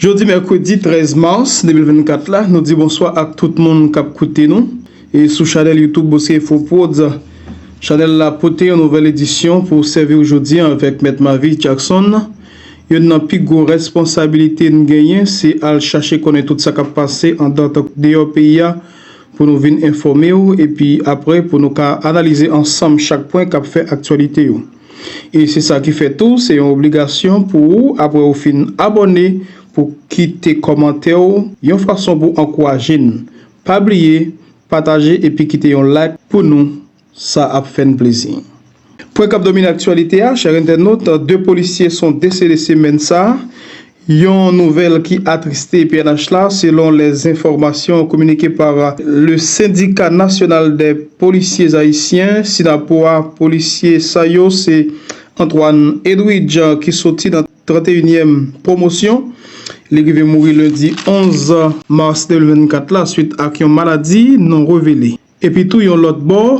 Jodi mèkredi 13 mars 2024 la, nou di bonswa ak tout moun k ap koute nou e sou chanèl YouTube Boskefoprods. Chanèl la pote yon nouvèl edisyon pou sèvi w jodi an avèk Mèt Mavie Jackson. Youn nan pi gwo responsabilite n genyen se al chache konnen tout sa k ap pase andan tank deyò peyi a pou nou vin enfòme w epi apre pou nou ka analize ansanm chak pwen k ap fè aktyalite yo. E se sa ki fè tou se yon obligasyon pou ou apre ou fin abòne pou kite kòmantè ou yon fason pou ankouraje n. Pa bliye pataje epi kite yon like pou nou sa ap fè n plezi. Pwen k ap domine aktyalite a chè entènot 2 polisye son desede semèn sa Yon nouvèl ki atriste pnh la, selon les informations communiquées par le Syndicat National des Policiers Haïtiens, Synapoha, polisye sa yo se Antoine Edwidge ki soti nan 31 nyèm pwomosyon. Li rive mouri lendi 11 mas 2024 la swit ak yon maladi non revele. Epitou yon lòt bò,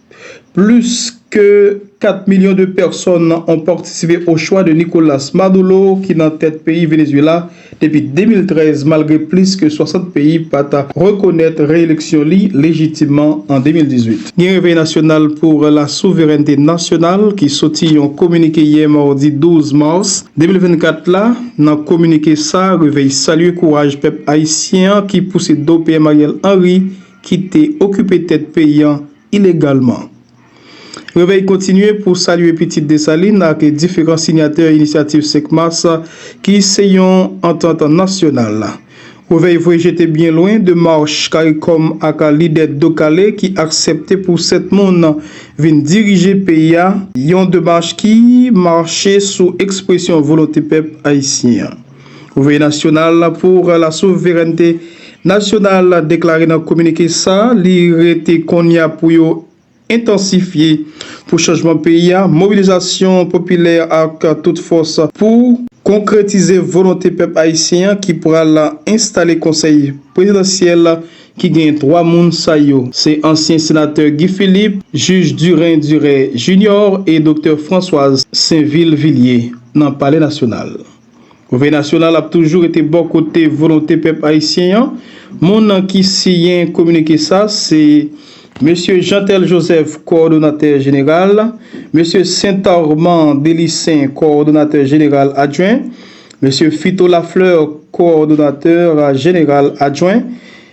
Plis ke 4 milyon de pèsòn an patisipe o chwa de Nicolas Madolo ki nan tèt peyi Venezuela depi 2013 malgre plis ke 60 peyi pa ta rekonèt reeleksyon li lejitimman an 2018. Gen Revèy Nasyonal pour la Souverènte Nasyonal ki soti yon kominike yè mardi 12 mars 2024 la. Nan kominike sa, Revèy salye kouraj pèp ayisyen an ki pouse do PM Ariel Henry, ki te okipe tèt peyi an ilegalman. Revèy kontinye pou salye pitit Desalin ak diferan sinyatè Inisyativ 5 Mas ki se yon antant nasyonal. Revèy voye jete byen lwen demach caricom ak lidè do kale ki aksepte pou 7 moun vin dirije peyi a, yon demach ki mache sou ekspresyon volonte pèp ayisyen an. Konveye Nasyonal pou la Souverènte Nasyonal deklare nan kominike sa li rete konnya pou yo entansifye pou chanjman peyi a mobilizasyon popilè ak tout fòs pou konkretize volonte pèp ayisyen an ki pral enstale konsèy prezidansyèl ki gen 3 moun sa yo se ansyen senatè Guy Philippe, jij Durin Duret Junior e doktè Françoise Sainvil Villiers nan palè nasyonal. Gouvènè nasyonal ap toujou rete bò kote volonte pèp ayisyen an. Moun nan ki siyen kominike sa se Mesye Jeantel Joseph, Kowòdonatè Jeneral, Mesye Saint Armand Delissaint, Kowòdonatè Jeneral Adjwen, Mesye Fito Lafleur, Kowòdonatè Jeneral Adjwen,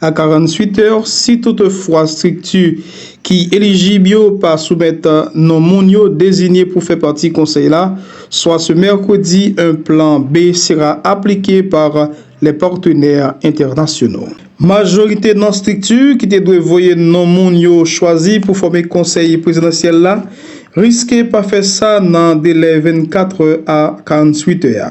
A 48 è, si toutefwa estrikti ki elijib yo pa soumèt non moun yo dezinye pou fè pati Konsèy la, swa se mèkredi, un plan B sera appliqué par les partenaires internationaux. Majorite non estrikti ki te dwe voye non moun yo chwazi pou fòme Konsèy Prezidansyèl la riske pa fè sa nan delè 24 è a 48 è a,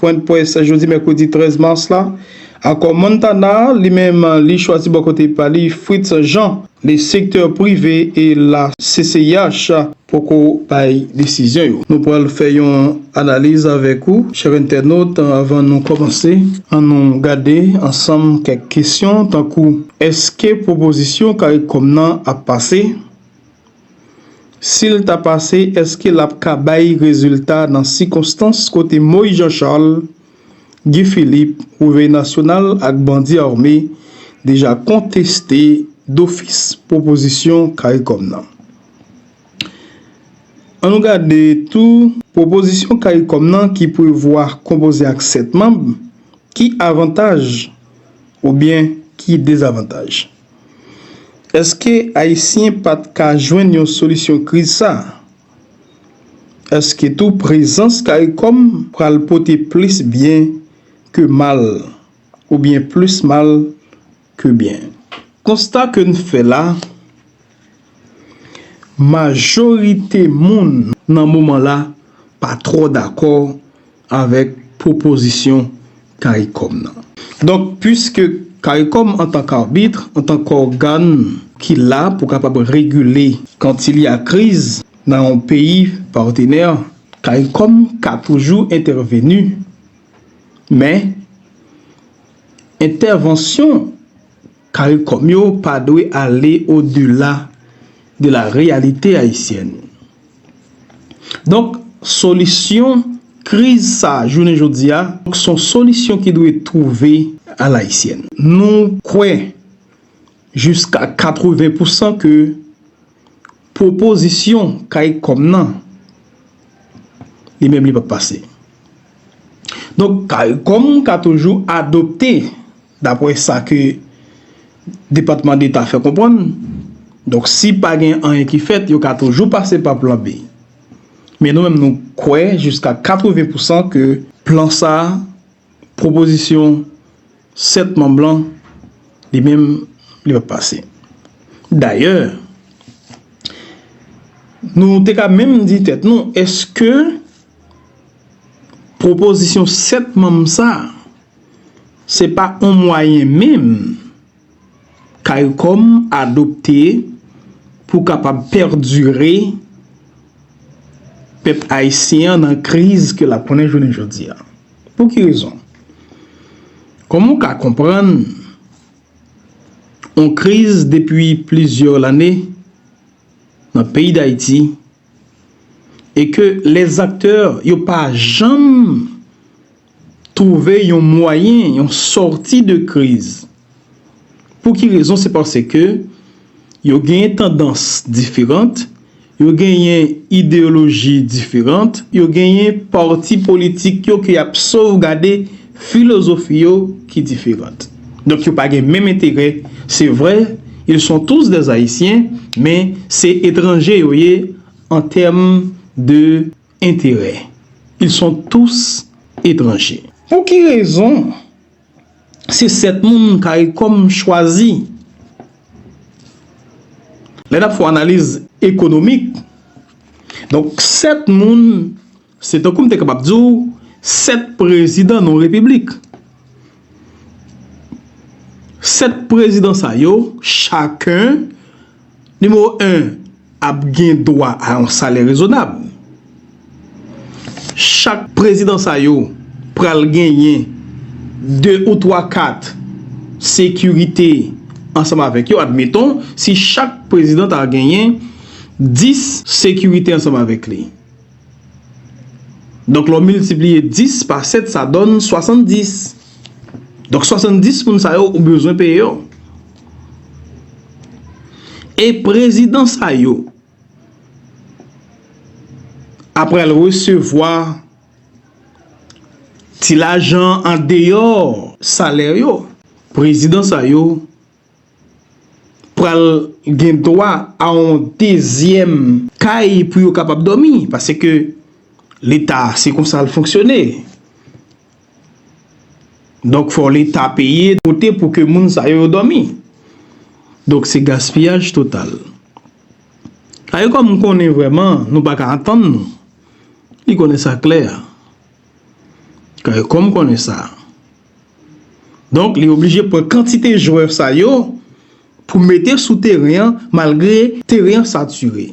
Pwendprès jodi mèkredi 13 mas la, akò Montana a, li menm li chwazi bò kote pa li Fritz Jean. Le secteur privé et la CCIH poko bay desizyon yo. Nou pral fè yon analiz avèk ou chè entènot avan nou kòmanse. An nou gade ansanm kèk kesyon tankou, Eske pwopozisyon caricom nan ap pase? Sil ta pase eske lap ka bay rezilta nan sikonstans kote Moïse Jean Charles, Guy Philippe, Revèy Nasyonal ak bandi ame deja konteste dofis pwopozisyon caricom nan? An nou gade tou pwopozisyon caricom nan ki prevwa konpoze ak 7 manb, ki avantaj oubyen ki dezavantaj? Eske Ayisyen pat ka jwenn yon solisyon kriz sa? Eske tou prezans caricom pral pote plis byen ke mal oubyen plis mal ke byen? Konsta ke n fè la, majorite moun nan moman la pa twò dakò avèk pwopozisyon caricom nan. Donk, puiske caricom antan k arbitre, antan k ògàn ki la pou kapab regile kan ti li a kriz nan yon peyi patenè, caricom ka toujou entèveni, men entèvansyon. Caricom yo pa dwe ale au delà de la réalité haïtienne. Donk solisyon kriz sa jounen jodi a son solisyon ki dwe twouve à l'haïtienne. Nou kwè jiska 80 pou san ke pwopozisyon Caricom nan li menm li pap pase. Donk Caricom ka toujou adopte. Dapwè sa ke Depatman Deta fè konpwann, donk si pa gen anyen ki fèt, yo ka toujou pase pa plan B. Men nou menm nou kwè jiska 80 pousan ke plan sa, pwopozisyon 7 manm lan, li menm li pap pase. Dayè, nou te ka menm di tèt nou, eske pwopozisyon 7 manm sa, Se pa on mwayen menm caricom adopte pou kapab perdure pèp ayisyen an nan kriz ke lap konnen jounen jodi a. Pou ki rezon? Kòman ou ka konprann on kriz depi plizyè lane nan peyi dayiti e ke lè zaktè yo pa janm Trouve yon mwayen, yon sòti de kriz. Pou ki rezon? Se pase ke yo genyen tandans diferant, yo genyen ideyoloji diferant, yo genyen pati politik yo ke y ap sovgade filozofi yo ki diferant. Donk yo pa gen menm enterè. Se vre, ils sont tous des Haïtiens, men se etranje yo ye an tèm de. enterè. Ils sont tous étrangers. Pou ki rezon se 7 moun caricom chwazi? Lè n ap fè yon analiz ekonomik, donk 7 moun se tankou m te kapab di w 7 prezidan yon repiblik. 7 prezidan sa yo chaken Nimewo 1, ap gen dwa a yon salè rezonab. Chak prezidan sa yo pral genyen 2 ou 3 kat sekirite ansanm avèk yo. Admeton, si chak prezidan ta genyen 10 sekirite ansanm avèk li. Donk lè w miltipliye 10 pa 7 sa donn 70. Donk 70 moun sa yo ou bezwen peye yo. E prezidan sa yo apre l resevwa ti lajan an deyò salè yo. Prezidan sa yo. pral gen dwa a yon dezyèm kay pou yo kapab dòmi paske leta se konsa l fonksyone donk fò leta peye kote pou ke moun sa yo dòmi donk se gaspiyaj total a yo kòm konnen vreman nou pa ka antann nou li konnen sa klè a kòm konnen sa Donk li oblije pran kantite jwè sa yo pou mete sou teren an malgre teren an sature.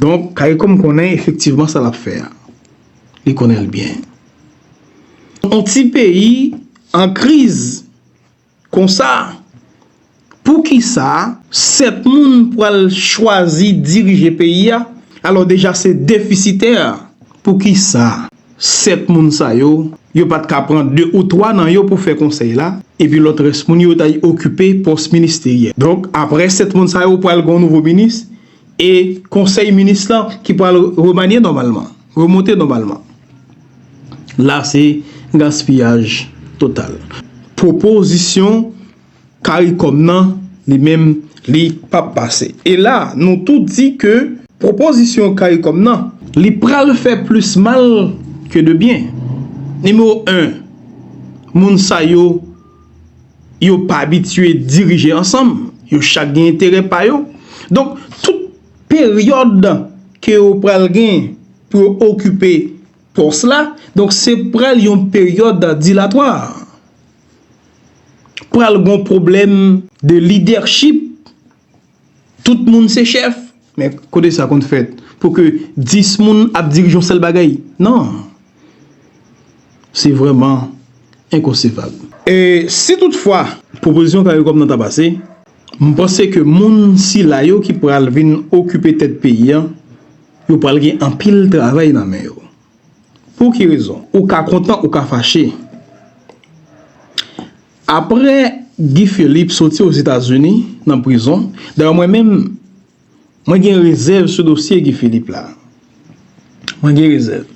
Donk Karikom konnen efektivman sa l ap fè a. Li konnen l byen. Yon ti peyi an kriz. Konsa, poukisa 7 moun pral chwazi dirije peyi a, alò deja se defisitè? Poukisa 7 moun sa yo, yo pa t ka pran 2 ou 3 nan yo pou fè konsèy la, epi lòt rès moun yo ta okipe pòs ministeryèl? Donk, aprè 7 moun sa yo pral gen yon nouvo minis, e konsèy minis lan ki pral remanye nòmalman. Remonte nòmalman. La se gaspiyaj total. Pwopozisyon caricom nan li menm li pap pase. E la nou tou di ke pwopozisyon caricom nan. Li pral fè plis mal ke de byen. Nimewo 1, moun sa yo, yo pa abitye dirije ansanm. Yo chak gen enterè pa yo. Donk tout. peryòd ke yo pral gen pou yo okipe pòs la, donk se pral yon peryòd dilatwa. Pral gon pwoblèm de lidèchip, tout moun se chèf, men kote sa konn fèt pou ke 10 moun ap dirije yon sèl bagay? Non! Se vrèman enkonsevab. E si tout fwa pwopozisyon Caricom nan ta pase, m panse ke moun sila yo ki pral vin okipe tèt peyi an, yo pral gen anpil travay nan men yo. Pou ki rezon? Ou ka kontan, ou ka fache. Aprè Guy Philippe soti Ozetazini nan prizon, dayè mwen menm, Mwen gen rezèv sou dosye Guy Philippe la. Mwen gen rezèv.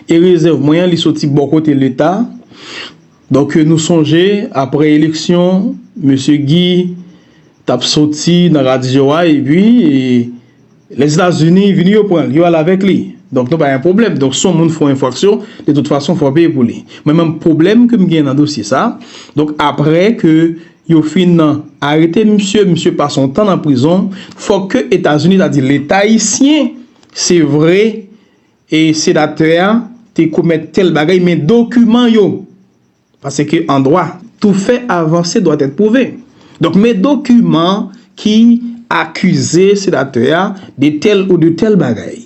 E rezèv mwen an li soti bò kote leta. Donk nou sonje aprè eleksyon mesye Guy t ap soti nan radyo a epi Lèzetazini vini yo pran l, yo al avèk li. Donk nou pa gen pwoblèm. Donk si yon moun fè yon enfraksyon de tout fason fò l peye pou li. Mwen menm pwoblèm ke m gen nan dosye sa donk aprè ke Yo fin nan arete misye misye pase yon tan nan prizon fòk ke etazini ta di leta ayisyen se vre e senatè a te komèt tèl bagay men dokiman yo paske an dwa tou fè avanse dwa tèt pwouve donk men dokiman ki akize senatè a de tèl ou de tèl bagay.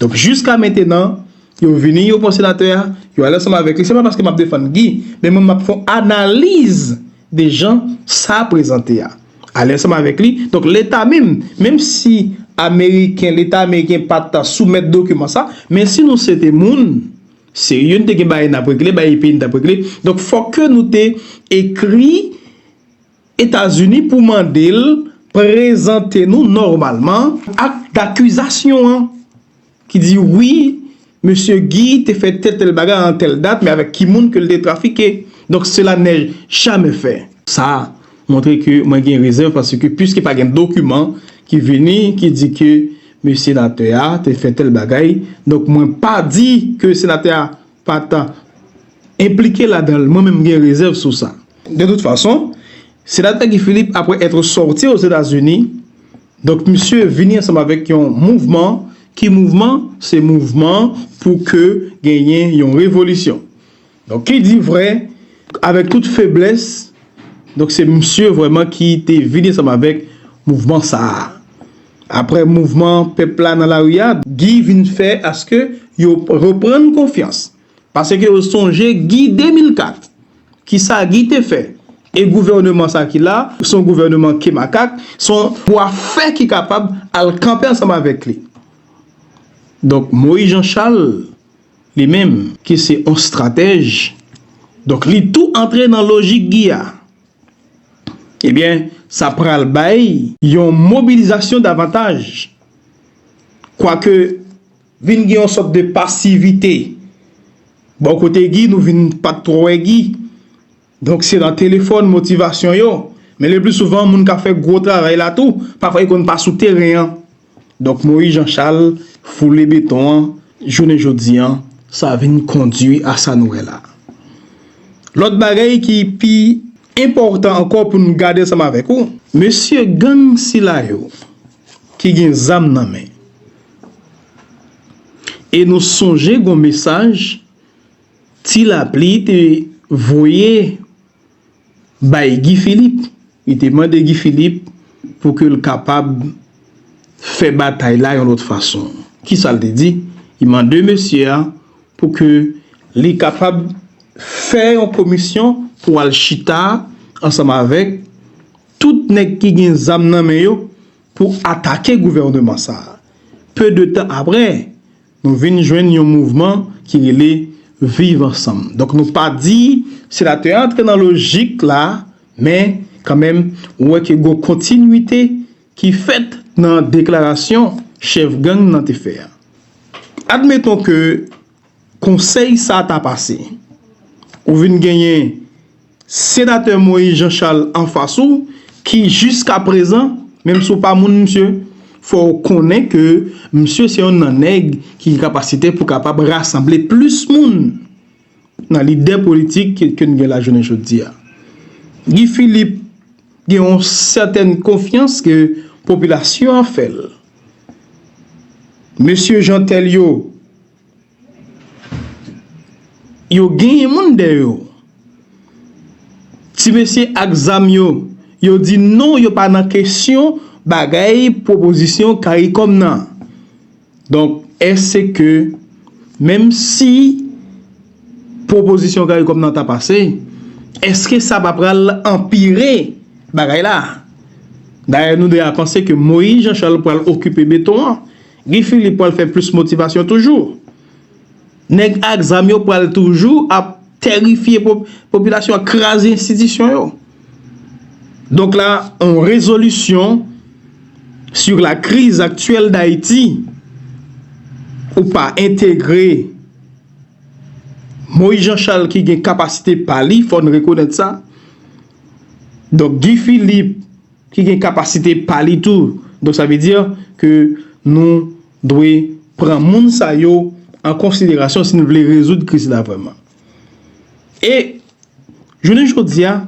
Donk jiska mentenan, yo vini yo pran senatè a, yo ale ansanm avèk li, se pa paske m ap defann Guy, men mwen m ap fè yon analiz de jan sa prezante a. Ale ansanm avèk li, donk leta menm, menm si ameriken, leta ameriken pa t soumèt dokiman sa, men si nou se te moun serye, nou te gen bagay n ap regle, bagay peyi n t ap regle, donk fòk ke nou te ekri, Etazini pou mande l prezante nou nòmalman ak dakizasyon an ki di wi mesye Guy te fè tèl tèl bagay an tèl dat men avèk ki moun ke l te trafike donk sela nè jamè fè. Sa montre ke mwen gen rezèv paske piske pa gen dokiman ki vini ki di ke mesye senatè a te fè tèl bagay donk mwen pa di ke senatè a pa ta enplike ladan l mwen menm m gen rezèv sou sa. De tout fason, Senatè Guy Philippe apre etre sorti aux Etats-Unis, donk misye vini ansanm avèk yon mouvman, ki mouvman? Se mouvman pou ke genyen yon revolisyon. Donk ki di vrè, avèk tout feblès, donk se misye vrèman ki te vini ansanm avèk mouvman sa a. Apre mouvman pèp la nan lari a, Guy vin fè aske yo reprann konfyans. Paske yo sonje Guy 2004. Kisa Guy te fè? E gouvèneman sa ki la, se yon gouvèneman ke makak, se yon bwa fè ki kapab al kanpe ansanm avèk li. Donk Moïse Jean Charles, li menm, ki se yon stratèj, donk li tou antre nan lojik Guy a. Ebyen, sa pral bay yon mobilizasyon davantaj. Kwake. Vin gen yon sòt de pasivite. Bò kote Guy nou vin pa t twò wè Guy. Donk se nan telefòn motivasyon yo. Men le pli souvan moun k ap fè gwo travay la tou pafwa yo konn pa sou teren an. Donk Moyiz Janchal foule beton an jounen jodi an. Sa vin kondui a sa nou wè la. Lòt bagay ki pi enpòtan ankò pou n gade ansanm avèk ou. Mesye gang sila yo ki gen zam nan men. E nou sonje gon mesaj Ti Lapli te voye bay Guy Philippe. Li te mande Guy Philippe pou ke l kapab fè batay la yon lòt fason. Ki sa l te di? Li mande mesye a pou ke li kapab fè yon komisyon pou al chita ansanm avèk tout nèg ki gen zam nan men yo pou atake gouvèneman sa a. Peu de tan aprè, nou vin jwenn yon mouvman ki rele Viv Ansanm. Donk nou pa di senatè a antre nan lojik la, men kan menm ou wè ke gon kontinwite ki fèt nan deklarasyon chèf gang nan te fè a. Admeton ke Konsèy sa ta pase. Ou vin genyen Senatè Moïse Jean Charles anfas ou ki jiska prezan, menm si w pa moun misye, fò w konnen ke misye se yonn nan nèg ki gen kapasite pou kapab rasanble plis moun nan lide politik ke n gen la jounen jodi a. Guy Philippe gen yon sètèn konfyans ke popilasyon an fè l. Mesye Jeantel yo, yo genyen moun dèyè yo. Ti mesye ak zam yo, yo di non yo pa nan kesyon bagay pwopozisyon karikom nan. Donk, èske menm si. pwopozisyon caricom nan ta pase eske sa pa pral anpire bagay la dayè nou 2 a panse ke moyiz jan chal pral okipe beton an guy philippe pral fè plis motivasyon toujou nèg ak zam yo pral toujou ap terifye popilasyon an kraze enstitisyon yo donk la yon rezolisyon sur la kriz aktyèl dayiti ou pa entegre Moïse Jean Charles ki gen kapasite pa li, fò n rekonèt sa. Donk Guy Philippe ki gen kapasite pa li tou. Donk sa vle di ke nou dwe pran moun sa yo an konsiderasyon si nou vle rezoud kriz la vrèman. E jounen jodi a.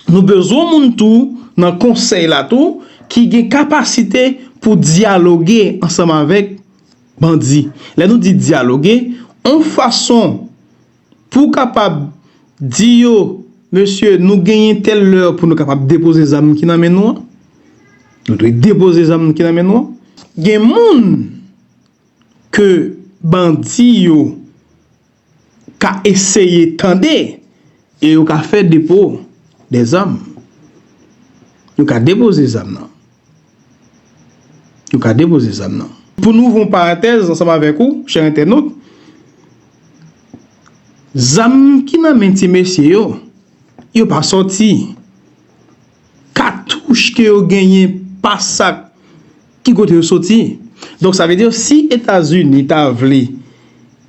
Nou bezwen moun tou nan konsèy la tou ki gen kapasite pou dyaloge ansanm avèk bandi. Lè nou di dyaloge, on fason pou kapab di yo, mesye nou genyen tèl lè pou nou kapab depoze zam ki nan men nou an. Nou dwe depoze zam ki nan men nou an. Gen moun ke bandi yo ka eseye tande e yo ka fè depo de zam. Yo ka depoze zam nan. Yo ka depoze zam nan. Pou nou ouvri yon paratèz ansanm avèk ou, chè entènot, zam ki nan men ti mesye yo, yo pa sòti. Katouch ke yo genyen pa sa ki kote yo soti. Donk sa vle di si Etazini ta vle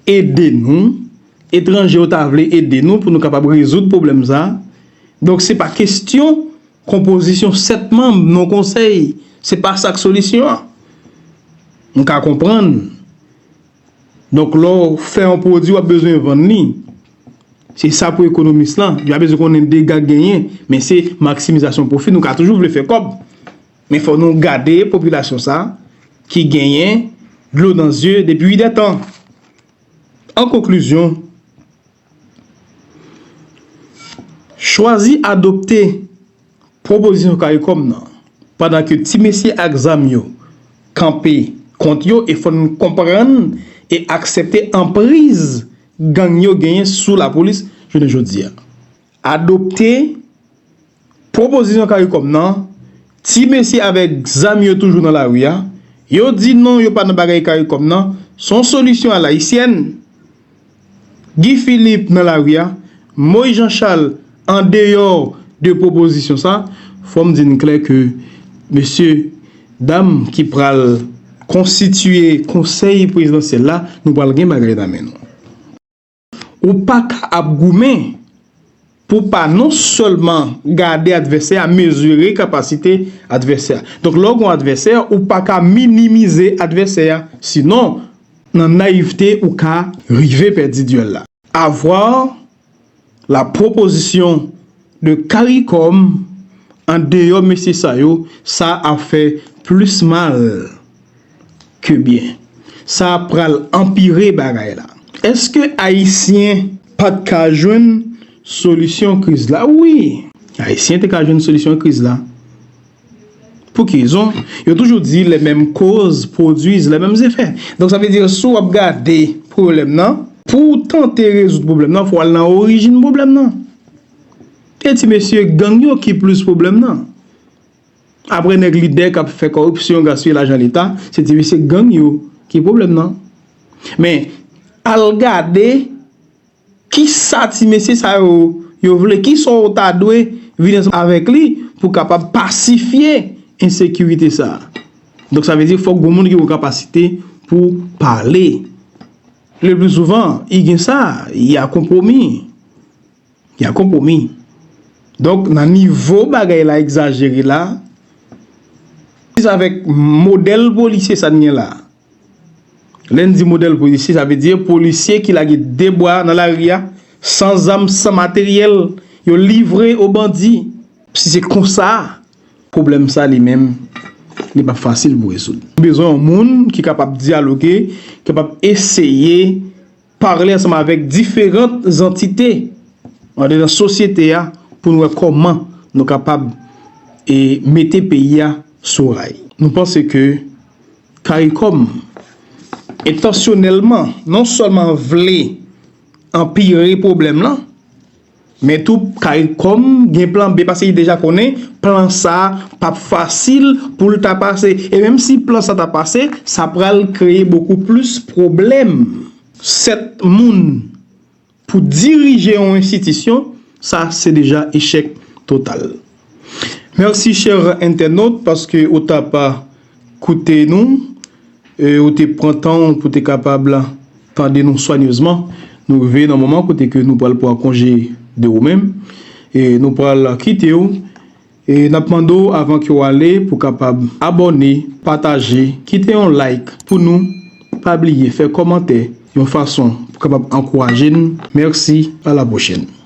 ede nou, etranje yo ta vle ede nou pou nou kapab rezoud pwoblèm sa, donk se pa kestyon konpozisyon 7 manm non konsèy, se pa sa k solisyon an. Nou ka konprann. Donk lè w fè yon pwodui wap bezwen vann li, se sa pou ekonomis lan, li pa bezwen konnen dega k genyen, men se maksimizasyon pwofi, nou ka toujou vle fè kòb, men fò nou gade popilasyon sa ki genyen dlo nan zye depi 8 dè tan. An konklizyon. Chwazi adopte pwopozisyon caricom nan pandan ke ti mesye ak zam yo kanpe kont yo e fè nou konprann e aksepte anpriz gang yo genyen sou lapolis jounen jodi a. Adopte. Pwopozisyon caricom nan, ti mesye avèk zam yo toujou nan lari a, yo di non yo pa nan bagay caricom nan, se yon solisyon a layisyèn. Guy Philippe nan lari a, Moïse Jean Charles an deyò de pwopozisyon sa, fò m di n klè ke mesye dam ki pral konstitiye konsèy prezidansyèl la, nou pral gen bagay nan men nou. Ou pa ka ap goumen pou w pa non sèlman gade advèsè a, mezire kapasite advèsè a. Donk lè w gen yon advèsè, ou pa ka minimize advèsè a. Sinon, nan nayivte, ou ka rive pèdi dyèl la. Avoir la proposition. de caricom an deyo mesye sa yo sa ap fè plus mal ke byen sa ap pral anpire bagay la eske ayisyen pat ka jwenn solisyon kriz la wi ayisyen te ka jwenn solisyon kriz la. Pou ki rezon? Yo toujou di lè menm koz pwodwiz lè menm zefè. Donk sa vle di sou wap gade pwoblèm nan, pou w tante rezoud pwoblèm nan fò w al nan orijin pwoblèm nan. E ti mesye gang yo ki plis pwoblèm nan. Aprè nèg lidè kap fè kòripsyon gaspiye lajan leta, se ti mesye gang yo ki pwoblèm nan. Men al gade. Kisa ti mesye sa yo yo vle? Kisa w ta dwe vin ansanm avèk li pou kapab pasifye ensekirite sa a? Donk sa vle di fòk gon moun ki gon kapasite pou pale. Le pli souvan, i gen sa, y a konpwomi. Y a konpwomi. Donk nan nivo bagay la egzajere la, avèk modèl polisye sa n gen la. Lè n di modèl polisye, sa vle di yo polisye ki lage de bwa nan lari a, san zam, san materyèl, yo livre o bandi. Si se konsa, pwoblèm sa li menm, li pa fasil pou rezoud. Bezwen yon moun ki kapab dyaloge, kapab eseye Pale ansanm avèk diferant zantite andedan sosyete a pou nou wè kòman nou kapab e mete peyi a sou ray. Nou panse ke Caricom entansyonèlman non sèlman vle anpire pwoblèm lan, Men tou caricom gen plan B paske li deja konnen plan sa pap fasil poul ta pase e menm si plan sa ta pase sa pral kreye bokou plis pwoblèm. 7 moun pou dirije yon enstitisyon sa se deja echèk total. Merci cher internaute paske ou tap koute nou e ou te pran tan ou pou te kapab tande nou swanyezman. Nou rive nan moman kote ke nou pral pran konje de ou menm e nou pral kite ou e nap mande ou avan ke ou ale pou kapab abòne, pataje, kite yon like pou nou, pa bliye fè kòmantè yon fason pou kapab ankouraje nou. Merci, a la pwochèn.